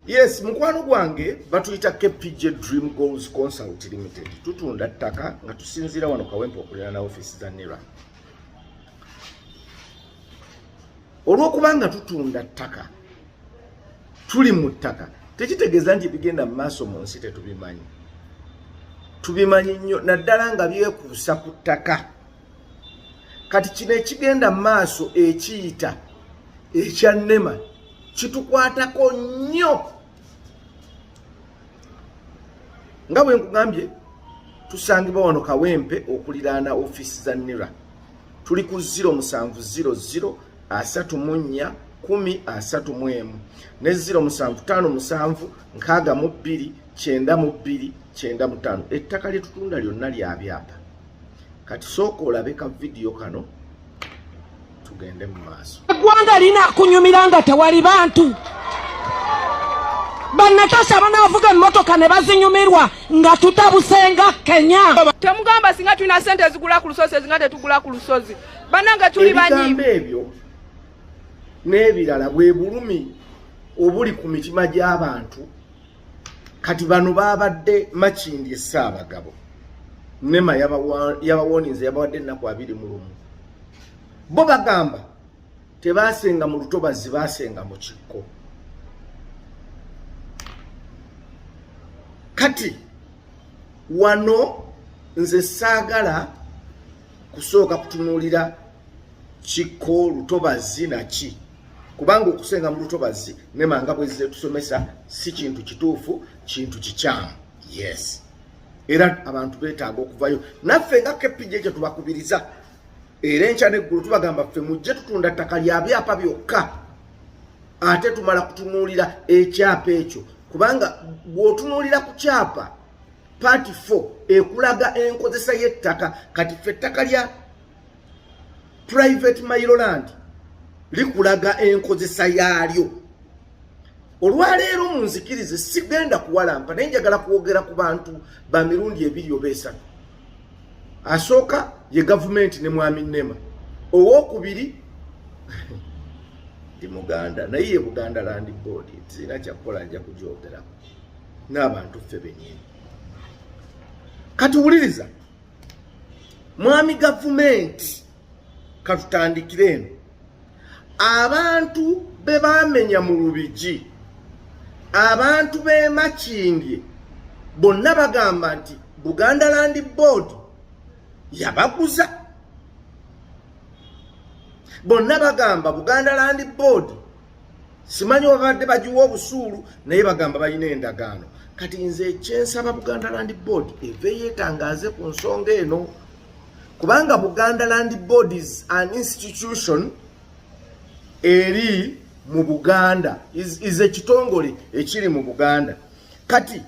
Yes, mukwano gwange batuyita KPJ Dream Goals Consult Limited. Tutunda ttaka nga tusinzira wano kawempe okulera na office za NERA. Olwokuba nga tutunda ttaka tuli mu ttaka tekitegeeza nti bigenda mu maaso mu nsi tetubimanyi. Tubimanyi nnyo naddala nga byekuusa ku ttaka. kati kino ekigenda mu maaso ekiyita ekya nema kitukwatako nnyo nga bwe nkugambye tusangibwa wano kawempe okuliraana ofiisi za nira tuli ku 0 musanvu 00 asatu mu nnya kumi asatu mu emu ne 0 musanvu taano musanvu nkaaga mu bbiri kyenda mu bbiri kyenda mu taano ettaka lye tutunda lyonna lya byapa kati sooka olabe ka vidiyo kano tugende mu maaso eggwanga lina kunyumira nga tewali bantu banatasha banavuga emotoka ne bazinyumirwa nga tutabusenga kenya temugamba singa tulina sente ezigula ku lusozi ezinga tetugula ku lusozi bananga tuli banyiibi ebyo n'ebirala bwe bulumi obuli ku mitima gy'abantu kati bano babadde makindi esaabagabo nema yabawoninze yabawadde ennaku abiri mu lumu bo bagamba tebaasenga mu lutobazi baasenga mu kikko kati wano nze saagala kusooka kutunuulira kikko lutobazi naki kubanga okusenga mu lutobazi ne manga bwezze tusomesa si kintu kituufu kintu kikyamu yes era abantu betaaga okuvayo naffe nga kpj ekyo tubakubiriza era enkya neggulu tubagamba ffe mujje tutunda ttaka lya byapa byokka ate tumala kutunuulira ekyapa ekyo kubanga bw'otunuulira ku kyapa paati fo ekulaga enkozesa y'ettaka kati ffe ettaka lya private mailoland likulaga enkozesa yaalyo olwaleero mu nzikirize sigenda kuwalampa naye njagala kwogera ku bantu ba mirundi ebiri oba esatu asooka ye gavumenti ne mwami nema owokubiri ndi muganda naye ye buganda land board sirina kyakukola nja kugyogerako n'abantu ffe benyini kati wuliriza mwami gavumenti katutandikire eno abantu be bamenya mu lubigi abantu b'emakindye bonna bagamba nti buganda land board yabaguza bonna bagamba buganda land board simanyi wabadde bagiwa obusuulu naye bagamba balina endagaano kati nze ekyensaba buganda land board eve yeetangaaze ku nsonga eno kubanga buganda land board is an institution eri mu buganda is ekitongole ekiri mu buganda kati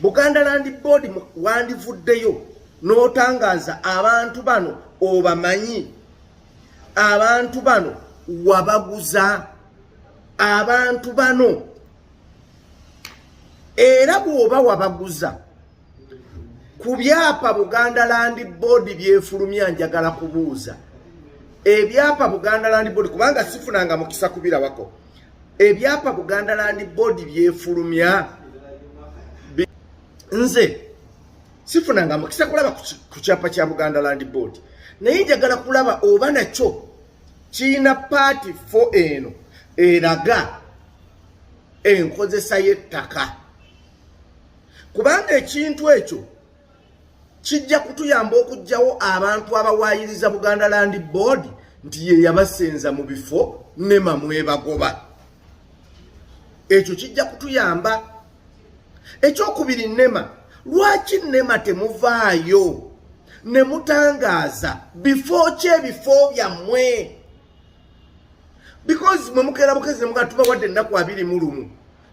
buganda land board wandivuddeyo n'otangaaza abantu bano obamanyi abantu bano wabaguza abantu bano era bwoba wabaguza ku byapa buganda landi boodi byefulumya njagala kubuuza ebyapa buganda landi boodi kubanga sifunanga mukisa kubirabako ebyapa buganda landi boodi byefulumya nze sifunanga mukisa kulaba ku kyapa kya buganda land board naye njagala kulaba oba nakyo kirina paati fo eno eraga enkozesa y'ettaka kubanga ekintu ekyo kijja kutuyamba okugjawo abantu abawaayiriza buganda land board nti ye yabasenza mu bifo nema mwebagoba ekyo kijja kutuyamba ekyokubiri nema lwaki nema temuvaayo ne mutangaaza bifo ki ebifo byammwe because mwe mukeera bukezi nemuga tubawadde ennaku abiri mu lumu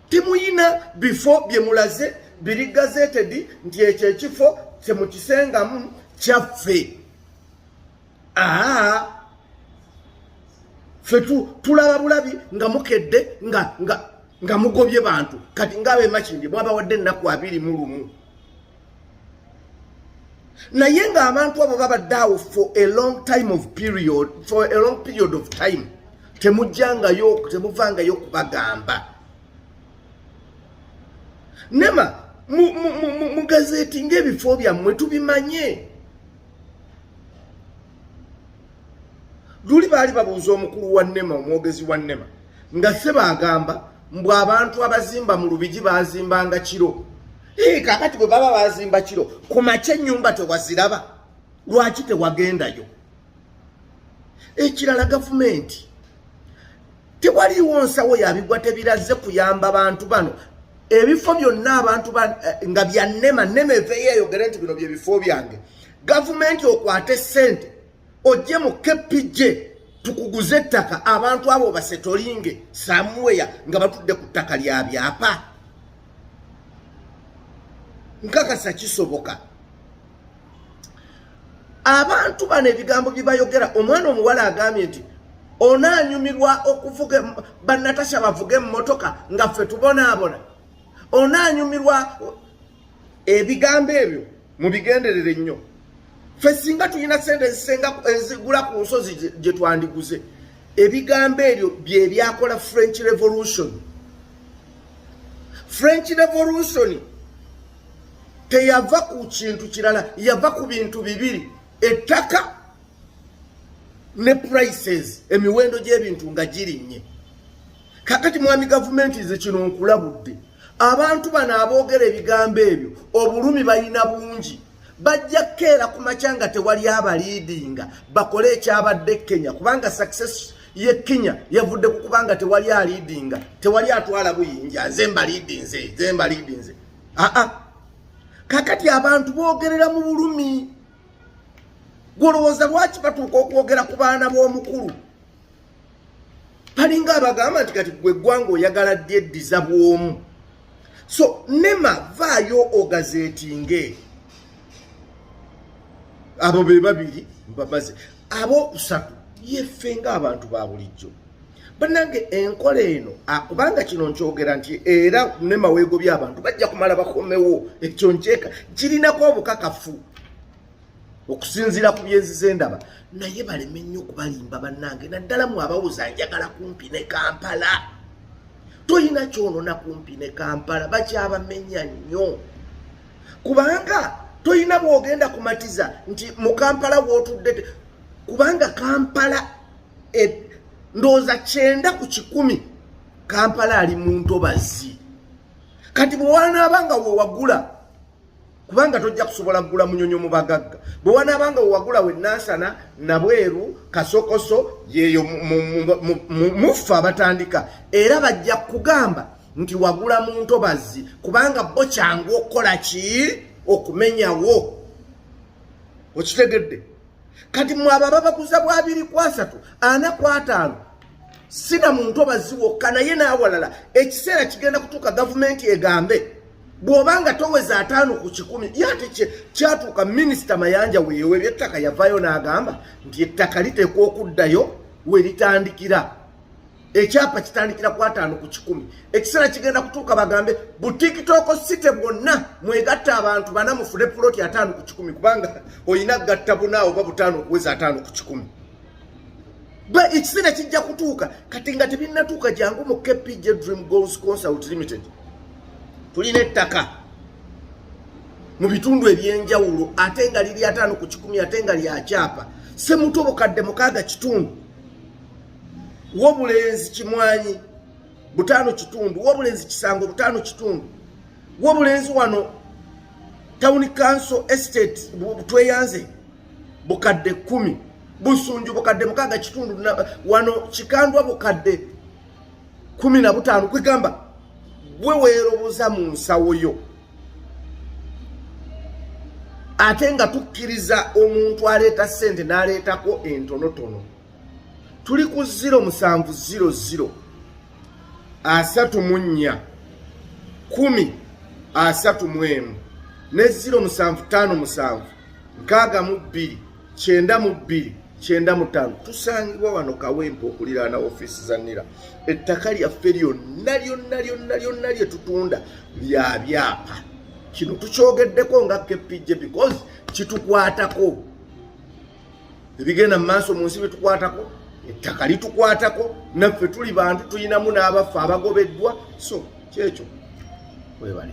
timuyina bifo bye mulaze biri gazetedi nti ekyo ekifo kyemukisengamu kyaffe aa fe tulaba bulabi nga mukedde nga nga nga mugobye bantu kati ngaabe makindi mwabawadde ennaku abiri mu lumu naye ng'abantu abo babadde awo for a long time of period for a long period of time temujjangayo temuvangayo kubagamba nema mugazeeti mu, mu, mu, mu ng'ebifo byammwe tubimanye luli baali babuuza omukulu wa nema omwogezi wa nema nga se baagamba mbw abantu abazimba mu lubigi bazimbanga kiro kakati bwe baba bazimba kiro ku makya ennyumba tewaziraba lwaki tewagendayo ekirala gavumenti tewaliwo nsawo yabigwa tebirazze kuyamba bantu bano ebifo byonna abantu eh, nga byannema nema eveyo eyogere nti bino byebifo byange gavumenti okwate sente ojje mu kpj tukuguze ettaka abantu abo basetolinge samuweya nga batudde ku ttaka lya byapa nkakasa kisoboka abantu bano ebigambo byebayogera omwana omuwala agambye nti onaanyumirwa okuvuga banatasha bavuga emmotoka nga ffe tubonaabona onaanyumirwa ebigambo ebyo mubigenderere nnyo ffe singa tulina sente ezisenga ezigula ku nsozi gye twandiguze ebigambo ebyo bye byakola french revolution french revolution teyava ku kintu kirala yava ku bintu bibiri ettaka ne prices emiwendo gy'ebintu nga girinnye kakati mwami gavumenti ze kino nkulabudde abantu bano aboogera ebigambo ebyo obulumi balina bungi bajja kukeera ku makya nga tewali abaliidinga bakole ekyabadde kenya kubanga success ye kenya yavudde ku kubanga tewali aliidinga tewali atwala buyinja nze mbaliidinze nze mbaliidinze aa ah, ah. kakati abantu bogerera mu bulumi gwolowooza lwaki batuuka okwogera ku baana b'omukulu balinga abagamba nti kati gwe eggwanga oyagala dyeddiza bwomu so nema vaayo ogazetinge abo be babiri mbamaze ab'okusatu yeffe ng'abantu ba bulijjo banange enkola eno akubanga ah, kino nkyogera nti era ne maweego by'abantu bajja kumala bakomewo ekyo nkyeka kirinako obukakafu okusinziira ku byenzize ndaba naye baleme nnyo okubalimba bannange naddala mu abawuza njagala kumpi ne kampala toyina kyonona kumpi ne kampala bakyabamenya nnyo kubanga toyina bwogenda kumatiza nti mu kampala wotudde kubanga kampala e, ndowooza kyenda ku kikumi kampala ali mu ntobazi kati bwewanaaba nga wewagula kubanga tojja kusobola kugula munyonyo mu bagagga bwewanaaba nga wewagula wenansana nabweru kasokoso yeyo muffe abatandika era bajja kugamba nti wagula mu ntobazi kubanga bo kyangu okukola ki okumenyawo okitegedde kati mwaba babakuza bwabiri kwasatu ana kwataano sina muntu obaziwokka naye n'awalala ekiseera kigenda kutuuka gavumenti egambe bw'oba nga toweza ataano ku kikumi yate kyatuuka minisita mayanja weewe ebyettaka yavaayo n'agamba nti ettaka liteekwa okuddayo we litandikira ekyapa kitandikira ku ataano ku kikumi ekiseera kigenda kutuuka bagambe butikitooko site bwonna mwegatta abantu bana mufune puloti ataano ku kikumi kubanga olina gatta buna oba butaano okuweza ataano ku kikumi ba ekiseera kijja kutuuka kati nga tebinnatuuka jangu mu kpj dream goals consult limited tulina ettaka mu bitundu ebyenjawulo ate nga liri ataano ku kikumi ate nga lyakyapa semuto bukadde mukaaga kitundu wobulenzi kimwanyi butano kitundu wobulenzi kisango butano kitundu wobulenzi wano town council estate tweyanze bukadde kumi busunju bukadde mukaga kitundu wano kikandwa bukadde kumi na butano kwegamba gwe weeroboza mu nsawo yo ate nga tukkiriza omuntu aleeta ssente n'aleetako entonotono tuli ku ziro musanvu ziro ziro asatu mu nnya kumi asatu mu emu ne ziro musanvu ttaano musanvu nkaaga mu bbiri kyenda mu bbiri kyenda mu ttaano tusangibwa wano kawempe okuliraana ofiisi za nira ettaka lyaffe lyonna lyonna lyonna lyonna lye tutunda lya byapa kino tukyogeddeko nga kpj because kitukwatako ebigenda mu maaso mu nsi bitukwatako ettaka litukwatako naffe tuli bantu tulinamu n'abaffe abagobeddwa so kyekyo webale